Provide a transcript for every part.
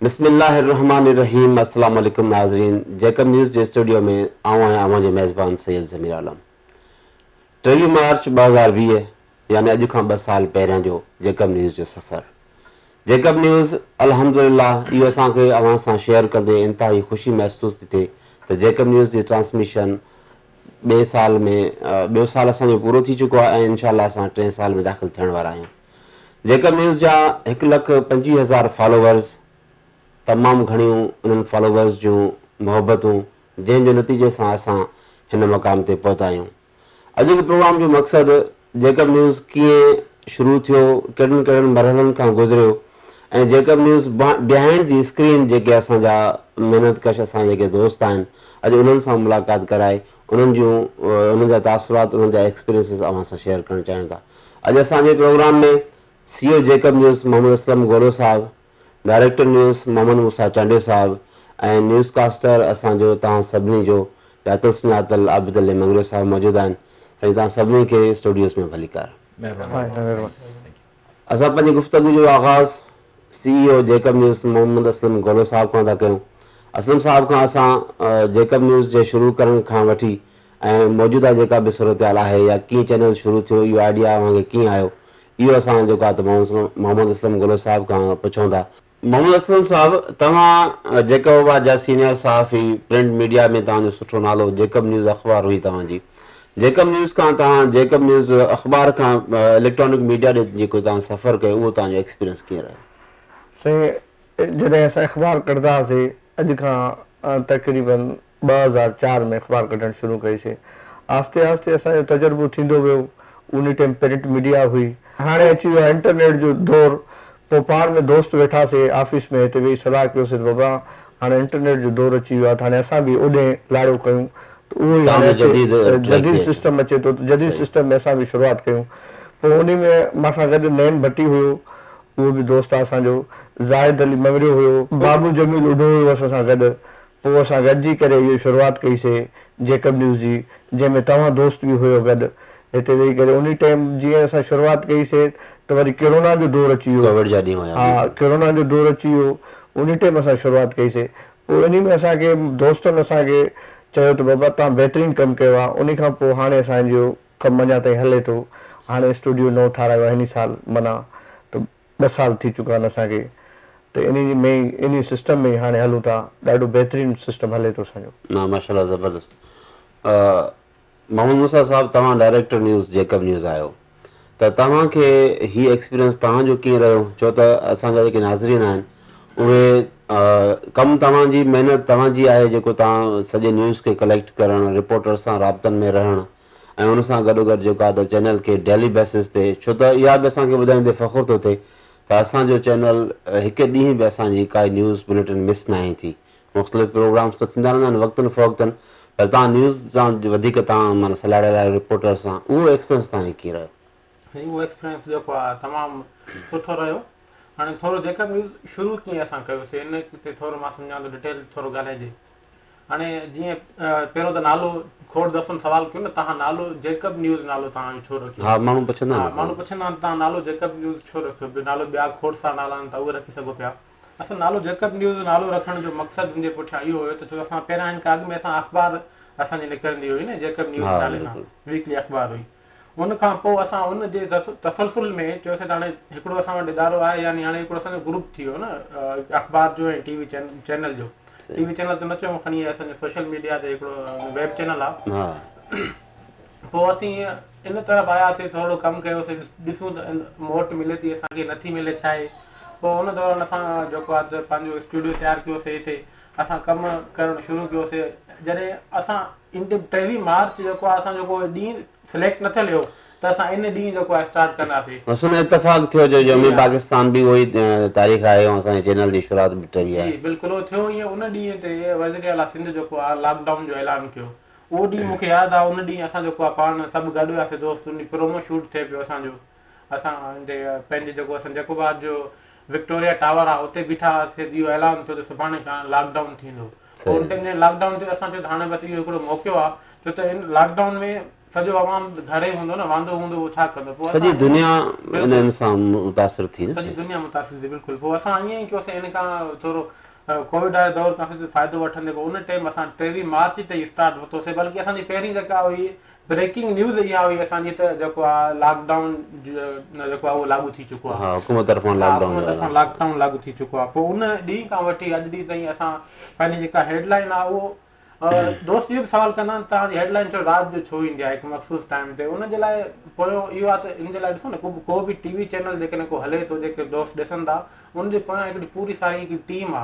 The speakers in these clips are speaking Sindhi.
بسم الله الرحمان الرحيم السلام عليڪم ناظرين جيڪب نيوز جي اسٽوڊيو ۾ آئون آهيان اوهان جو ميزبان سيد ضمير عالم ٽيويهه مارچ ٻه هزار ويهه يعني اڄ کان ٻه سال پهريان جو جيڪب نيوز جو سفر جيڪب نيوز الحمدلله اهو اسان کي اوهان سان شيئر ڪندي انتهائي خوشي محسوس ٿي ٿئي ته جيڪب نيوز جي ٽرانسميشن ٻئي سال ۾ ٻيو سال اسان جو پورو ٿي چڪو آهي ۽ انشاء الله اسان ٽئين سال ۾ داخل ٿيڻ وارا آهيون جيڪب نيوز جا هڪ لک پنجويهه هزار فالوورز تمام گهڻيون انهن فالوورز جون محبتون جنهن جي نتيجي سان اسان هن مقام تي پهتا آهيون. اڄ جي پروگرام جو مقصد جيڪب نيوز ڪيئن شروع ٿيو، ڪهڙن ڪهڙن مرحلن کان گذريو ۽ Jacob news behind the screen جيڪي اسان جا محنت ڪش اسان جا جيڪي دوست آهن اڄ انهن سان ملاقات ڪرائي انهن جون انهن جا تاثرات انهن جا ايڪسپيرينسز اوهان سان شيئر ڪرڻ چاهيون ٿا اڄ اسان جي programme ۾ C O Jacob news Muhammad Aslam Golo sahib director news Muhammad Musa Chandio sahib ۽ news caster اسان جو توهان سڀني جو ڄاتل سڃاتل عابد علي مڱريو صاحب موجود آهن سائين توهان سڀني کي اسٽوڊيوز ۾ ڀليڪار. مهرباني. اسان پنهنجي گفتگو جو آغاز C E O Jacob news Muhammad Aslam Golo sahib کان ٿا ڪيون. اسلم صاحب کان اسان جيڪب نيوز جي شروع ڪرڻ کان وٺي ۽ موجوده جيڪا به صورتحال آهي يا ڪيئن چينل شروع ٿيو اهو آئيڊيا اوهان کي ڪيئن آيو اهو اسان جيڪو آهي ته محمد اسلم گولو صاحب کان پڇون ٿا. محمد اسلم صاحب توهان جيڪب آباد جا سينيئر صحافي پرنٽ ميڊيا ۾ توهان جو سٺو نالو جيڪب نيوز اخبار هئي توهان جي جيڪب نيوز کان توهان جيڪب نيوز اخبار کان اليڪٽرانڪ ميڊيا ڏي جيڪو توهان سفر ڪيو اهو توهان جو ايڪسپيرينس ڪيئن رهيو؟ سائين جڏهن اسان اخبار ڪڍندا هئاسين اڄ کان تقريبن ٻه هزار چار ۾ اخبار ڪڍڻ شروع ڪئي سي. آهستي آهستي اسان جو تجربو ٿيندو ويو. انهي ٽيم پرنٽ ميڊيا هئي. هاڻي اچي ويو آهي انٽرنيٽ جو دور. پوء پاڻ ۾ دوست ويٺا سي آفيس ۾ هتي ويهي صلاح ڪيو سي ته بابا هاڻي انٽرنيٽ جو دور اچي ويو آهي ته هاڻي اسان به اوڏهين لاڙو ڪيون ته اهو ئي هاڻي اچي جديد سسٽم اچي ٿو ته جديد سسٽم ۾ اسان به شروعات ڪيون. پوء انهي ۾ مان سان گڏ نعيم ڀٽي هيو اهو به دوست آهي اسان جو. زاهد علي مڱريو هيو. بابو جميل اڍو هيو اسان سان گڏ. پوء اسان گڏجي ڪري اهو شروعات ڪئي سي جيڪب نيوز جي جنهن ۾ توهان دوست به هيو گڏ هتي ويهي ڪري انهي ٽيم جيئن اسان شروعات ڪئي سي ته وري ڪرونا جو دور اچي ويو ڪووڊ جا ڏينهن هيا ها بلڪل ڪرونا جو دور اچي ويو انهي ٽيم اسان شروعات ڪئي سي پوء انهي ۾ اسان کي دوستن اسان کي چيو ته بابا توهان بهترين ڪم ڪيو آهي انهي کان پوء هاڻي اسان جو ڪم اڃا تائين هلي ٿو هاڻي اسٽوڊيو نئون ٺاراهيو آهي انهي سال معنيٰ ته ٻه سال ٿي چڪا آهن اسان کي ته انهي ۾ ئي انهي سسٽم ۾ ئي هاڻي هلون ٿا ڏاڍو بهترين سسٽم هلي ٿو اسان جو. نه ماشاءالله زبردست محمد موسيٰ صاحب توهان ڊائريڪٽر نيوز جيڪب نيوز آهيو ته توهان کي هي ايڪسپيرينس توهان جو ڪيئن رهيو ڇو ته اسان جا جيڪي ناظرين آهن اهي ڪم توهان جي محنت توهان جي آهي جيڪو توهان سڄي نيوز کي ڪليڪٽ ڪرڻ رپورٽرس سان رابطن ۾ رهڻ ۽ ان سان گڏوگڏ جيڪا ته چينل کي ڊيلي بيسز تي ڇو ته اها به اسان کي ٻڌائيندي فخر ٿو ٿئي ته اسان جو چينل هڪ ڏينهن به اسان جي ڪائي نيوز بليٽن مس ناهي ٿي مختلف پروگرامز ته ٿيندا رهندا آهن وقتن فوقتن پر تان نيوز سان وڌيڪ تان معنی سلاڙيل آهي رپورٽر سان اهو ايڪسپيرينس تان هي ڪيئن رهيو سائين اهو ايڪسپيرينس جيڪو آهي تمام سٺو رهيو هاڻي ٿورو جيڪب نيوز شروع ڪيئن اسان ڪيوسي ان تي ٿورو مان سمجهان ٿو ڊيٽيل ٿورو ڳالهائجي. هاڻي جيئن پهريون ته نالو کوڙ دسن سوال ڪيو نه تهان نالو جيڪب نيوز نالو تهان جو ڇو رکيو ها ماڻهو پڇندا آهن ها ماڻهو پڇندا آهن تهان نالو جيڪب نيوز ڇو رکيو به نالو ٻيا کوڙ سارا نالا آهن تهان اهي رکي سگهو پيا اصل نالو جيڪب نيوز نالو رکڻ جو مقصد ان جي پٺيان اهو هيو ته ڇو اسان پهريان ان کان اڳ ۾ اسان اخبار اسان جي نڪرندي هئي نه جيڪب نيوز نالي سان ويڪلي اخبار هئي ان کان پوء اسان ان جي تسلسل ۾ چيوسين ته هاڻي هڪڙو اسان وٽ ادارو آهي يعني هاڻي هڪڙو اسان جو گروپ ٿي ويو نه اخبار جو ۽ ٽي وي چينل جو ٽي وي چينل ته نه چئون کڻي اسان جو سوشل ميڊيا تي هڪڙو ويب چينل آهي پوء اسين ان طرف آياسين ٿورڙو ڪم ڪيوسين ڏسون ته موٽ ملي ٿي اسان کي نٿي ملي ڇا آهي پوء ان دوران اسان جيڪو آهي ته پنهنجو اسٽوڊيو تيار ڪيوسين هتي اسان ڪم ڪرڻ شروع ڪيو سي جڏهن اسان ٽيويهه مارچ جيڪو آهي اسان جيڪو ڏينهن سليڪٽ نه ٿيل هيو ته اسان ان ڏينهن جيڪو آهي اسٽارٽ ڪنداسي. بس ان اتفاق ٿيو جو يوم پاڪستان به اهو ئي تاريخ آهي ۽ اسان جي چينل جي شروعات به ٽيويهه آهي. جي بلڪل اهو ٿيو ائين ان ڏينهن تي وزير اعليٰ سنڌ جيڪو آهي لاڪ ڊائون جو اعلان ڪيو اهو ڏينهن مونکي ياد آهي ان ڏينهن اسان جيڪو آهي پاڻ سڀ گڏ هياسي دوست ان ڏينهن پرومو شوٽ ٿي پيو اسان جو. اسان هتي پنهنجي جيڪو اسان جيڪو به آج جو وڪٽوريا ٽاور آ اتي بيٺا هئاسي اهو اعلان ٿيو ته سڀاڻي کان لاڪ ڊائون ٿيندو صحيح ان ٽائيم جڏهن لاڪ ڊائون ٿيو اسان چيو ته هاڻي بس اهو هڪڙو موقعو آ ڇو ته ان لاڪ ڊائون ۾ سڄو عوام گهر ئي هوندو نه واندو هوندو اهو ڇا ڪندو پوء سڄي اسان ائين دنيا بلڪل انهن سان متاثر ٿي نه سڄي سائين دنيا متاثر ٿي بلڪل پوء اسان ائين ئي ڪيوسين ان کان ٿورو ڪووڊ واري دور کان سڄو فائدو وٺندي پوء ان ٽائيم اسان ٽيويهه مارچ تي ئي اسٽارٽ ورتوسي بلڪه اسان جي پهرين جيڪا هئي بريڪنگ نيوز اها هئي اسان جي ته جيڪو آ لاڪ ڊائون جيڪو آ اهو لاڳو ٿي چڪو آ ها حڪومت طرفان لاڪ ڊائون حڪومت طرفان لاڪ ڊائون لاڳو ٿي چڪو آ پوء ان ڏينهن کان وٺي اڄ ڏينهن تائين اسان پنهنجي جيڪا هيڊ لائن آ اهو دوست اهو به سوال ڪندا آهن توهان جي هيڊ لائن ڇو رات جو ڇو ايندي آ هڪ مخصوص ٽائيم تي ان جي لاء پويو اهو آ ته ان جي لاء ڏسو نه ڪو به ٽي وي چينل جيڪڏهن ڪو هلي ٿو جيڪي دوست ڏسن ٿا ان جي پويان هڪڙي پوري ساري هڪڙي ٽيم آ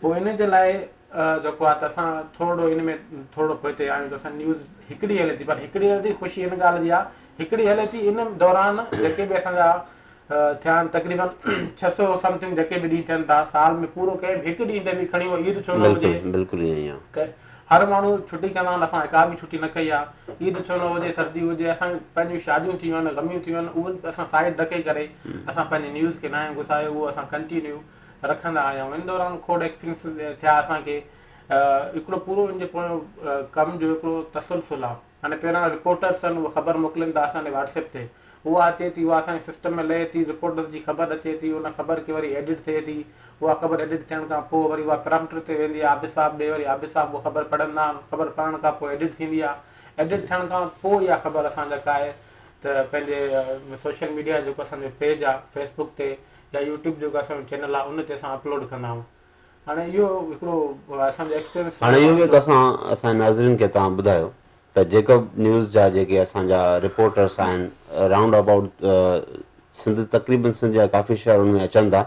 پوء ان جي لاء جيڪو آهي ته اسان ٿورڙو ان ۾ ٿورڙو پوئتي آهيون ته اسان نيوز هڪڙي هلي ٿي پر هڪڙي هلي ٿي خوشي ان ڳالهه جي آهي هڪڙي هلي ٿي ان دوران جيڪي به اسان جا ٿيا آهن تقريبن ڇهه سؤ سمٿنگ جيڪي به ڏينهن ٿين ٿا سال ۾ پورو ڪنهن به هڪ ڏينهن تي به کڻي هو عيد ڇو نه هجي بلڪل بلڪل ائين ئي آهي هر ماڻهو ڇٽي ڪندا آهن اسان هڪا به ڇٽي نه ڪئي آهي عيد ڇو نه هجي سردي هجي اسان پنهنجون شاديون ٿيون آهن غميون ٿيون آهن اهو اسان سائيڊ ڏڪي ڪري اسان پنهنجي نيوز کي نه آهيون گسايو اهو اسان ڪنٽينيو رکندا آهيون ان دوران کوڙ ايڪسپيرينس ٿيا اسان کي هڪڙو پورو ان جي پويان ڪم جو هڪڙو تسلسل آهي يعني پهريان رپورٽرس آهن اهي خبر موڪلين ٿا اسان ڏي واٽسپ تي اها اچي ٿي اها اسان جي سسٽم ۾ لهي ٿي رپورٽرس جي خبر اچي ٿي ان خبر کي وري ايڊٽ ٿئي ٿي اها خبر ايڊٽ ٿيڻ کان پوء وري اها پرامپٽر تي ويندي آهي عابد صاحب ڏي وري عابد صاحب اها خبر پڙهندا آهن خبر پڙهڻ کان پوء ايڊٽ ٿيندي آهي ايڊٽ ٿيڻ کان پوء اها خبر اسان جا ڪاهي ته پنهنجي سوشل ميڊيا جيڪو اسان جو پيج آهي فيسبوڪ تي يا يوٽيوب جيڪو اسان جو چينل آهي ان تي اسان اپلوڊ ڪندا آهيون هاڻي اهو هڪڙو اسان جو ايڪسپيرينس هاڻي اهو به توسان اسان جي ناظرين کي توهان ٻڌايو ته جيڪب نيوز جا جيڪي اسان جا رپورٽرس آهن رائونڊ ابائوٽ سنڌ تقريبن سنڌ جا ڪافي شهر ان ۾ اچن ٿا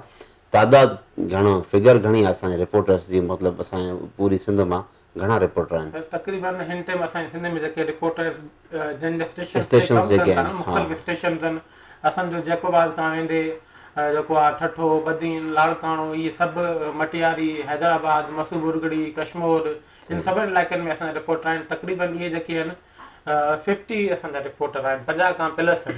تعداد گهڻو فگر گهڻي آهي اسان جي رپورٽرس جي مطلب اسان جي پوري سنڌ مان گهڻا رپورٽر آهن. سر تقريبن هن ٽيم اسان جي سنڌ ۾ جيڪي رپورٽرز جن جا اسٽيشنز تي اسٽيشنز ڪم جيڪي ڪن ٿا آهن، نه مختلف ها. اسٽيشنز آهن اسان جو جيڪب آباد کان ويندي جيڪو آ ٺٺو، بدين، لاڙڪاڻو اهي سڀ مٽياري، حيدرآباد، مسو ٻرڳڙي، ڪشمور ان صحيح. سڀن علائقن ۾ اسان جا رپورٽر آهن تقريبن اهي جيڪي آهن ففٽي اسان جا رپورٽر آهن پنجاهه کان پلس آهن.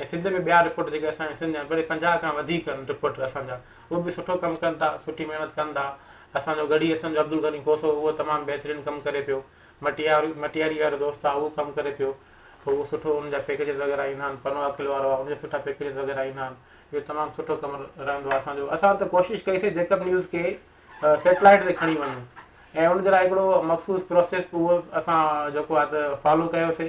۽ سنڌ ۾ ٻيا رپورٽر جيڪي اسان جا سنڌ جا بلڪ پنجاهه کان وڌيڪ آهن رپورٽر اسان جا اهي به سٺو ڪم ڪن ٿا سٺي محنت ڪن ٿا اسان جو گڙهي اسان جو عبدالغني کوسو اهو تمام بهترين ڪم ڪري پيو مٽياري مٽياري وارو دوست آهي اهو ڪم ڪري پيو اهو سٺو ان جا پيڪيجز وغيره ايندا آهن پنو عاقل وارو آهي ان جا سٺا پيڪيجز وغيره ايندا آهن اهو تمام سٺو ڪم رهندو آهي اسان جو اسان ته ڪوشش ڪئي سي جيڪب نيوز کي سيٽلائيٽ تي کڻي وڃون ۽ ان جي لاء هڪڙو مخصوص پروسيس به اهو اسان جيڪو آهي ته فالو ڪيو سي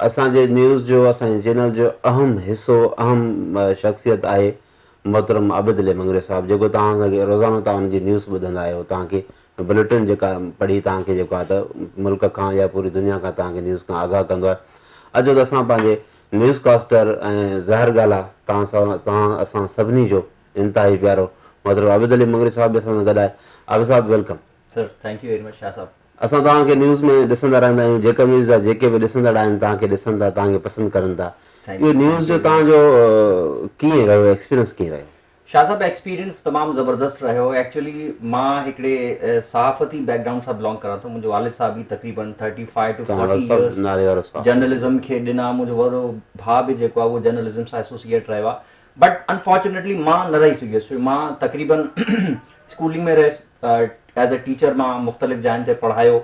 اسان جي نيوز جو اسان جي چينل جو اهم حصو اهم شخصيت آهي محترم عابد علي مڱري صاحب جيڪو توهان سان کي روزانو توهان ان جي نيوز ٻڌندا آهيو توهان کي بليٽن جيڪا پڙهي توهان کي جيڪو آهي ته ملڪ کان يا پوري دنيا کان توهان کي نيوز کان آگاهه ڪندو آهي اچو ته اسان پنهنجي نيوز ڪاسٽر ۽ ظاهر ڳالهه آهي توهان سان توهان اسان سڀني جو انتهائي پيارو محترم عابد علي مڱري صاحب به اسان سان گڏ آهي Abid sahib welcome sir thank you very much Shah sahib اسان توهان کي نيوز ۾ ڏسندا رهندا آهيون جيڪب نيوز جا جيڪي به ڏسندڙ آهن توهان کي ڏسن ٿا توهان کي پسند ڪرن ٿا اهو نيوز جو توهان جو ڪيئن رهيو ايڪسپيرينس ڪيئن رهيو. شاهه صاحب ايڪسپيرينس تمام زبردست رهيو ايڪچولي مان هڪڙي صحافتي بيڪ گرائونڊ سان بلانگ ڪران ٿو منهنجو والد صاحب هي تقريبن thirty five to forty years journalism کي ڏنا منهنجو وڏو ڀاء به جيڪو آهي اهو جرنلزم سان ايسوسيئيٽ رهيو آهي بٽ انفارچونيٽلي مان نه رهي سگهيس ڇو مان تقريبن اسڪولنگ ۾ رهيس ايز اي ٽيچر مان مختلف جاين تي پڙهايو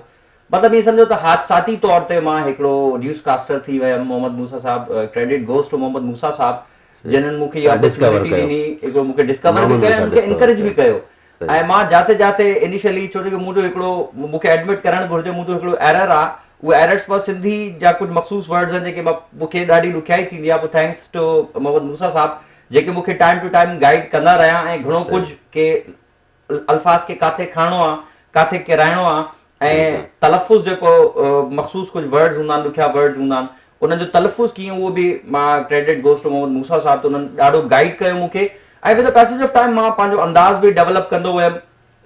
مطلب ائين سمجهو ته حادثاتي طور تي مان هڪڙو نيوز ڪاسٽر ٿي ويم Muhammad Musa sahib credit goes to Muhammad Musa sahib جنھن مون کي اها اپرچونيٽي ڏني هڪڙو مون کي ڊسڪور به ڪيو ۽ مون کي انڪريج به ڪيو ۽ مان جاٿي جاٿي انيشلي ڇو جو منهنجو هڪڙو مونکي ايڊمٽ ڪرڻ گهرجي منهنجو هڪڙو ايرر آ اهو ايررس مان سنڌي جا ڪجهه مخصوص ورڊز آهن جيڪي مان مونکي ڏاڍي ڏکيائي ٿيندي آ پوء ٿينڪس ٽو محمد موسيٰ صاحب جيڪي مونکي ٽائيم ٽو ٽائيم گائيڊ ڪندا رهيا ۽ گهڻو ڪجهه ڪي الفاظ کي ڪاٿي کڻڻو آ ڪاٿي ڪيرائڻو آ ۽ تلفظ جيڪو مخصوص ڪجهه ورڊز هوندا آهن ڏکيا ورڊز هوندا آهن انهن جو تلفظ ڪيئن اهو به مان credit goes to Muhammad Musa sahib ته انهن ڏاڍو گائيڊ ڪيو مون کي ۽ with a passage of time مان پنهنجو انداز به ڊيولپ ڪندو ويم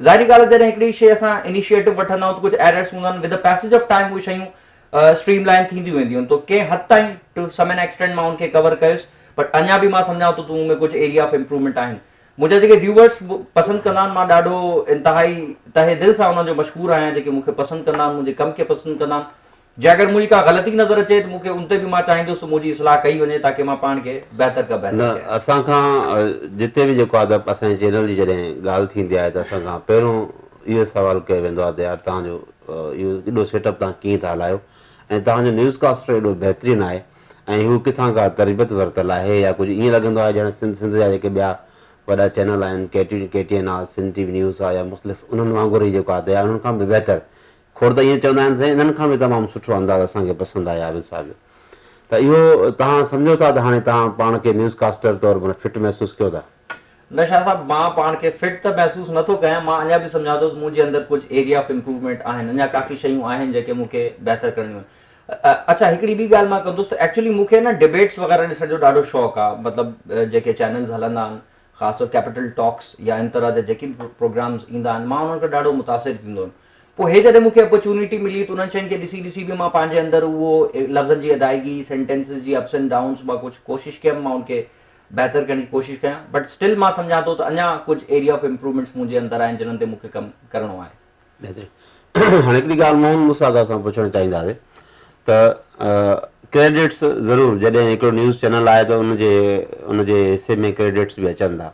ظاهري ڳالهه جڏهن هڪڙي شي اسان انيشيئيٽو وٺندا آهيون ته ڪجهه ايررس هوندا آهن with a passage of time اهي شيون اسٽريم لائن ٿينديون وينديون آهن تو ڪنهن حد تائين ٽو سم اين ايڪسٽينٽ مان ان کي ڪور ڪيس بٽ اڃا به مان سمجهان ٿو ته ان ۾ ڪجهه ايريا آف امپروومينٽ آهن منهنجا جيڪي ويوورس پسند ڪندا آهن مان ڏاڍو انتهائي تهه دل سان انهن جو مشڪور آهيان جيڪي مون کي پسند ڪندا آهن منهنجي ڪم کي پسند ڪندا آهن جي اگر منهنجي ڪا غلطي نظر اچي ته مون کي ان تي به مان چاهيندس ته منهنجي اصلاح ڪئي وڃي تاڪي مان پاڻ کي بهتر کان بهتر نه ڪيان. اسان کان جتي به جيڪو ادب اسان جي چينل جي جڏهن ڳالهه ٿيندي آهي ته اسان کان پهريون اهو سوال ڪيو ويندو آهي ته يار توهان جو اهو ايڏو سيٽ اپ توهان ڪيئن ٿا هلايو ۽ توهان جو نيوز ڪاسٽر ايڏو بهترين آهي ۽ هو ڪٿان ڪا تربيت ورتل آهي يا ڪجهه ائين لڳندو آهي ڄڻ سنڌ سنڌ جا جيڪي ٻيا وڏا چينل آهن K T K T N آ سنڌ ٽي وي نيوز آ يا مختلف انهن وانگر هي جيڪو آهي انهن کان به بهتر کوڙ ته ائين چوندا آهن سائين انهن کان به تمام سٺو انداز اسان کي پسند آهي عابد صاحب جو ته اهو توهان سمجهو ٿا ته هاڻي توهان پاڻ کي نيوز ڪاسٽر طور معنيٰ فٽ محسوس ڪيو ٿا. نه شاهه صاحب مان پاڻ کي فٽ ته محسوس نه ٿو ڪيان مان اڃا به سمجهان ٿو ته منهنجي اندر ڪجهه ايريا آف امپروومينٽ آهن اڃا ڪافي شيون آهن جيڪي مون کي بهتر ڪرڻيون آهن اڇا هڪڙي ٻي ڳالهه مان ڪندس ته ايڪچولي مون کي نه ڊبيٽس وغيره ڏسڻ جو ڏاڍو شوق آ مطلب جيڪي چينلز هلندا آهن خاص طور ڪيپيٽل ٽاڪس يا ان طرح جا جيڪي به پروگرامز ايندا آهن مان انهن کان ڏاڍو متاثر ٿيندو هيم پوء هي جڏهن مون کي اپرچونيٽي ملي ته انهن شين کي ڏسي ڏسي به مان پنهنجي اندر اهو لفظن جي ادائيگي سينٽينسز جي اپس اينڊ ڊائونز مان ڪجهه ڪوشش ڪيم مان ان کي بهتر ڪرڻ جي ڪوشش ڪيان بٽ اسٽل مان سمجهان ٿو ته اڃا ڪجهه ايريا آف امپروومينٽس منهنجي اندر آهن جنهن تي مون کي ڪم ڪرڻو آهي هاڻي هڪڙي ڳالهه موهن موسيٰ ادا سان پڇڻ چاهينداسين ته ڪريڊٽس ضرور جڏهن هڪڙو نيوز چينل آهي ته ان جي ان جي حصي ۾ ڪريڊٽس به اچن ٿا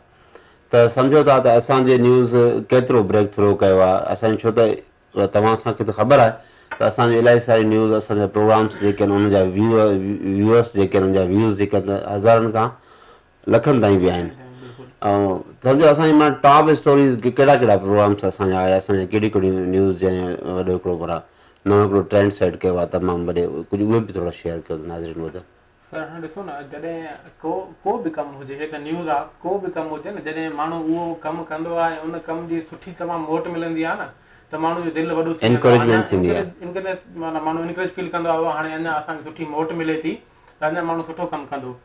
ته سمجهو ٿا ته اسان جي نيوز ڪيترو بريڪ ٿرو ڪيو آهي اسان ڇو ته توهان اسان کي ته خبر آهي ته اسان جو الائي ساري نيوز اسان جا پروگرامس جيڪي آهن ان جا ويو ويوئرس جيڪي آهن ان جا ويوز جيڪي آهن هزارن کان لکن تائين به آهن ۽ سمجهو اسان جي مان ٽاپ اسٽوريز ڪهڙا ڪهڙا پروگرامس اسان جا آيا اسان جا ڪهڙي ڪهڙي نيوز جي وڏو هڪڙو پر نو هڪڙو ٽرينڊ سيٽ ڪيو آ تمام وڏي ڪجهه اهي به ٿورا شيئر ڪيو ناظرين وڌ. سر هاڻي ڏسو نه جڏهن ڪو ڪو به ڪم هجي هي ته نيوز آ ڪو به ڪم هجي نه جڏهن ماڻهو اهو ڪم ڪندو آ ۽ ان ڪم جي سٺي تمام موٽ ملندي آ نه ته ماڻهو جو دل وڏو ٿي ويندو آ انڪريجمينٽ ٿيندي آ انڪريج معنيٰ ماڻهو انڪريج فيل ڪندو آ هاڻي اڃا اسان کي سٺي موٽ ملي ٿي ته اڃا ماڻهو سٺو ڪم ڪندو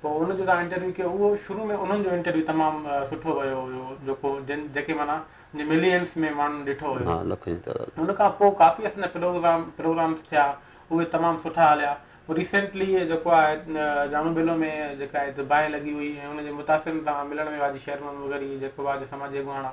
پوء ان جو تان انٽرويو ڪيو اهو شروع ۾ انهن جو انٽرويو تمام سٺو ويو هيو جيڪو جن جيڪي معنيٰ جن ملينس ۾ ماڻهن ڏٺو هيو ها لکن جي تعداد ان کان پوء ڪافي اسان جا پروگرام پروگرامس ٿيا اهي تمام سٺا هليا پوء ريسينٽلي جيڪو آهي جامو بيلو ۾ جيڪا هي باهه لڳي هئي ۽ ان جي متاثرن سان ملڻ ويو آء جي شهر محمد مظهري جيڪو آء جي سماجي اڳواڻ آ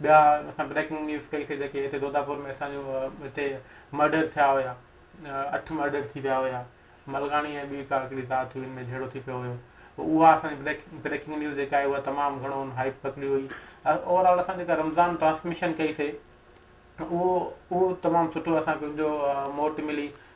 ٻيا اسان بريڪنگ نيوز ڪئي سي جيڪي هتي دوداپور ۾ اسان جون هتي مرڊر ٿيا هيا اٺ مرڊر ٿي ويا هيا ملڪاڻي ۽ ٻي ڪا هڪڙي ذات هئي ان ۾ جهيڙو ٿي پيو هيو اها اسان جي بريڪ بريڪنگ نيوز جيڪا آهي اها تمام گهڻو ان هائپ پڪڙي هئي اوور آل اسان جيڪا رمضان ٽرانسميشن ڪئي سي اهو اهو تمام سٺو اسان کي ان جو موٽ ملي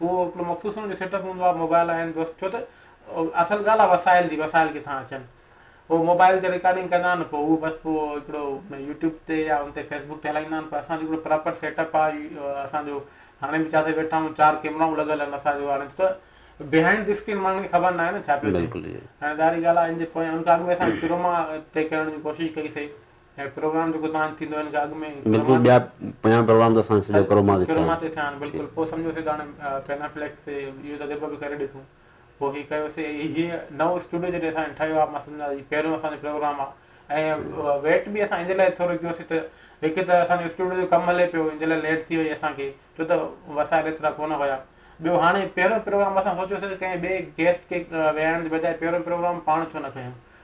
اهو هڪڙو مخصوص ان جو سيٽ اپ هوندو آهي موبائل آهن بس ڇو ته اصل ڳالهه آهي وسائل جي وسائل ڪٿان اچن هو موبائل تي رڪارڊنگ ڪندا آهن پوء اهو بس پوء هڪڙو يوٽيوب تي يا ان تي فيسبوڪ تي هلائيندا آهن پر اسان جو هڪڙو پراپر سيٽ اپ آهي اسان جو هاڻي به جاٿي ويٺا آهيون چار ڪيمرائون لڳل آهن اسان جو هاڻي ته بهائنڊ دي اسڪرين ماڻهن کي خبر ناهي نه ڇا پيو ٿئي هاڻي ظاهري ڳالهه آهي ان جي پويان ان کان اڳ ۾ اسان ڪروما تي ڪرڻ جي ڪوشش ڪئي سي هي پروگرام جيڪو توهان جو ٿيندو هن کان اڳ ۾ بلڪل ٻيا پنجاهه پروگرام ته اسان جا سڄا ڪروما تي ٿيا ڪروما آهن تي ٿيا آهن ٺيڪ بلڪل پوء سمجهيوسي ته هاڻي پينا فليڪس تي اهو تجربو به ڪري ڏسون پوء هي ڪيوسي هي نئون اسٽوڊيو جڏهن اسان جو ٺهيو آهي مس سمجهان هي پهريون اسان جو پروگرام آهي ۽ صحيح آهي ويٽ به اسان ان لاء ٿورو ڪيوسي ته هڪ ته اسان جو اسٽوڊيو جو ڪم هلي پيو ان لاء ليٽ ٿي وئي اسان کي ڇو ته وسائل ايترا ڪونه هيا ٻيو هاڻي پهريون پروگرام اسان سوچيوسي ته ڪنهن ٻئي گيسٽ کي ويهارڻ جي بجاء پهريون پروگرام پاڻ ڇو نه ڪيون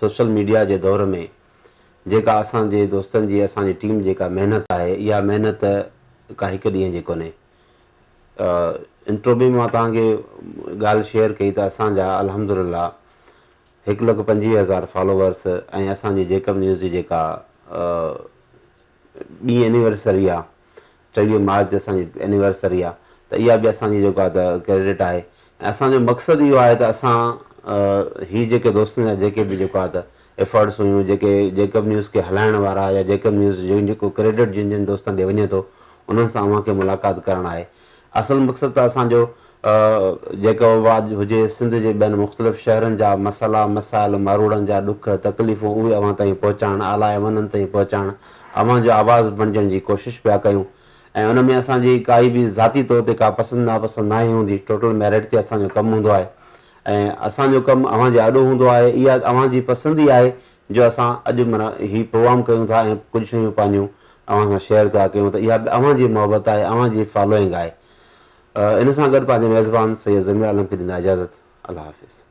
سوشل ميڊيا جي دور ۾ جيڪا اسان جي دوستن جي اسان جي ٽيم جيڪا محنت آهي اها محنت ڪا هڪ ڏينهن جي ڪونهي انٽرو ۾ مان توهان کي ڳالهه شيئر ڪئي ته اسان جا الحمدلله هڪ لک پنجويهه هزار فالوورس ۽ اسان جي جيڪب نيوز جي جيڪا ٻي اينيورسري آهي چويهه مارچ جي اسان جي اينيورسري آ ته اها به اسان جي جيڪو آ ته ڪريڊٽ آهي ۽ اسان جو مقصد اهو آهي ته اسان هي جيڪي دوستن جا جيڪي به جيڪو آ ته ايفرٽس هيون جيڪي جيڪب نيوز کي هلائڻ وارا يا جيڪب نيوز جو جيڪو ڪريڊٽ جن جن دوستن ڏي وڃي ٿو انهن سان اوهان کي ملاقات ڪرڻ آهي اصل مقصد ته اسان جو جيڪو واد هجي سنڌ جي ٻين مختلف شهرن جا مسئلا مسائل ماروئڙن جا ڏک تڪليفون اهي اوهان تائين پهچائڻ اعليٰ ايوانن تائين پهچائڻ اوهان جو آواز بڻجڻ جي ڪوشش پيا ڪيون ۽ ان ۾ اسان جي ڪائي به ذاتي طور تي ڪا پسند ناپسند ناهي هوندي ٽوٽل ميرٽ تي اسان جو ڪم هوندو آهي ۽ اسان جو ڪم اوهان جي آڏو هوندو آهي اها اوهان جي پسند ئي آهي جو اسان اڄ منا هي پروگرام ڪيون ٿا ۽ ڪجهه شيون پنهنجون اوهان سان شيئر پيا ڪيون ته اها به اوهان جي محبت آهي اوهان جي فالوئنگ آهي ان سان گڏ پنهنجي ميزبان سيد ضمير عالم کي ڏيندا اجازت الله حافظ.